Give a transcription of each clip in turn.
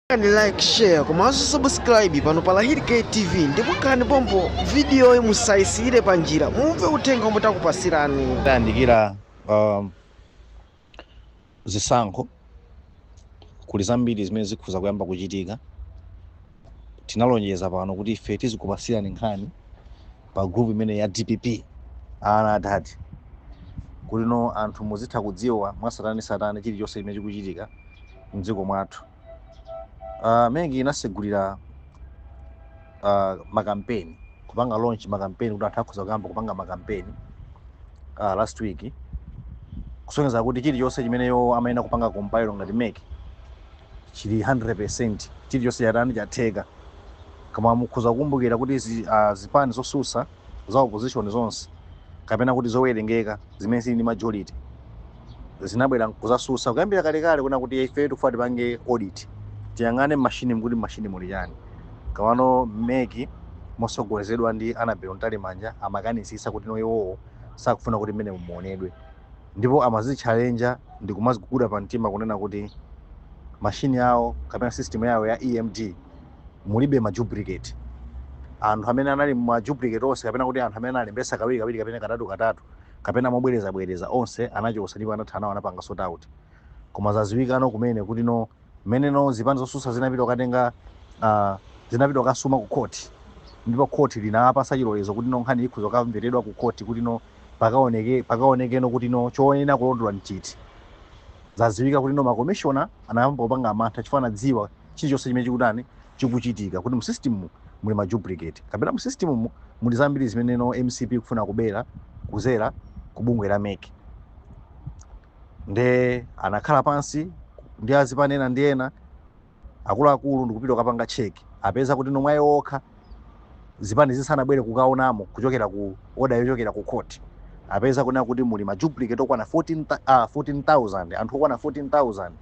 Pangani like share komanso subscribe pano pa Lahirike TV ndipo khalani pompo vidiyoyi musayisiyire pa njira mumve uthenga omwe takupasirani. tayandikira um, zisankho kuli zambiri zimene zikhoza kuyamba kuchitika tinalonjeza pano kuti ife tizikupasirani nkhani pa group imene ya dpp ana adad kuti no anthu muzitha kudziwa mwasatane satane chilichonse chimene chikuchitika mdziko mwathu. Uh, MEC inasegulira uh, makampeni kupanga launch makampeni kuti anthu akhoza kuyamba kupanga makampeni uh, last week kusonyeza kuti chilichonse chimene iyo imayenera kupanga compile ngati MEC chili 100% chilichonse chatani chatheka koma mukhoza kukumbukira kuti zi, uh, zipani zosusa za opposition zonse kapena kuti zowerengeka zimene zili ndi majority zinabwera kuzasusa kuyambira kalekale kunena kuti ife tikufuna tipange audit tiyang'ane mashini kuti mashini muli chani koma ano mec motsogozedwa ndi annabel mtalimanja amakanisisa kuti no iwowo sakufuna kuti mmenemo muonedwe ndipo amazitchalenja ndi kumaziguguda pa mtima kunena kuti mashini yawo kapena system yawo ya emd mulibe ma duplicate anthu amene anali ma duplicate onse kapena kuti anthu amene analembesa kawiri kawiri kapena katatu katatu kapena mobwereza bwereza onse anachosa ndipo anatha nawo anapanga sort out koma zaziwikano kumene kuti no mmene no zipani zosusa zinapita kukatenga uh, zinapita kukasuma ku court ndipo court linapasa chilolezo kuti no nkhani ikhoza kukamveredwa ku court kuti no pakaoneke pakaonekeno kuti no choyenera kulondola nchiti zaziwika kuti no makomishona anayamba kupanga mantha chifukwa anadziwa chilichonse chimene chikutani chikuchitika kuti mu system mu muli ma duplicate kapena mu system mu muli zambiri zimene no mcp ikufuna kubera kuzera ku bungwe la mec nde anakhala pansi ndi azipani ena ndi ena akuluakulu ndikupita kukapanga check apeza kuti nomwe ayi okha zipani zisanabwere kukaonamo kuchokera ku order yochokera ku court apeza kunena kuti muli ma duplicate okwana 14,000 uh, 14, anthu okwana 14000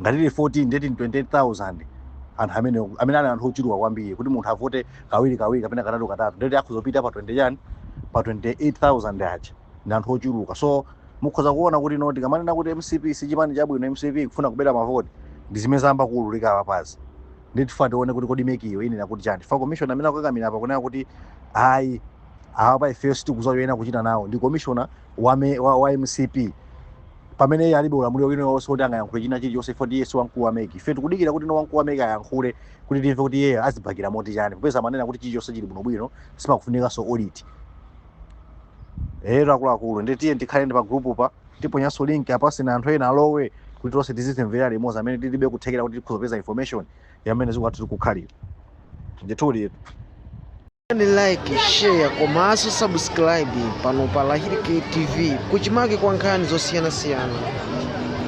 ngati tili 14 ndeti 28000 anthu amene amene ali anthu ochuluka kwambiri kuti munthu avote kawiri kawiri kapena katatu katatu ndeti akhoza kupita pa 20 chani pa 28000 aja ndi anthu ochuluka so mukhoza kuona kuti no tikamanena kuti mcp si chipani chabwino mcp ikufuna kubera mavoti ndi zimene zayamba kuululika apapazi nde tifuna tione kuti kodi mecyo inena kuti chani fa commissioner amene akukakamira apa kunena kuti ayi awa pa ifeyo sitikuziwa zoyenera kuchita nawo ndi commissioner wa, me- wa, wa mcp pamene iye alibe ulamuliro wina ulionse woti angayankhule china chilichonse chifukwa kuti iye si wamkulu wa meki ife tikudikira kuti no wamkulu wa meki ayankhule kuti timve kuti iyeyo azibakira moti chani popeza amanena kuti chilichonse chili bwinobwino sipakufunikanso audit ero akuluakulu tiyeni tikhalenso pa group pa tiponyanso link apa sina anthu ena alowe kuti tonse tizizimvera limodzi amene tilibe kuthekera kuti tikhoza kupeza information ya mmene zikuti tikukhalira ndithudi ni like share komanso subscribe pano pa lahiri tv kuchimake kwa nkhani zosiyanasiyana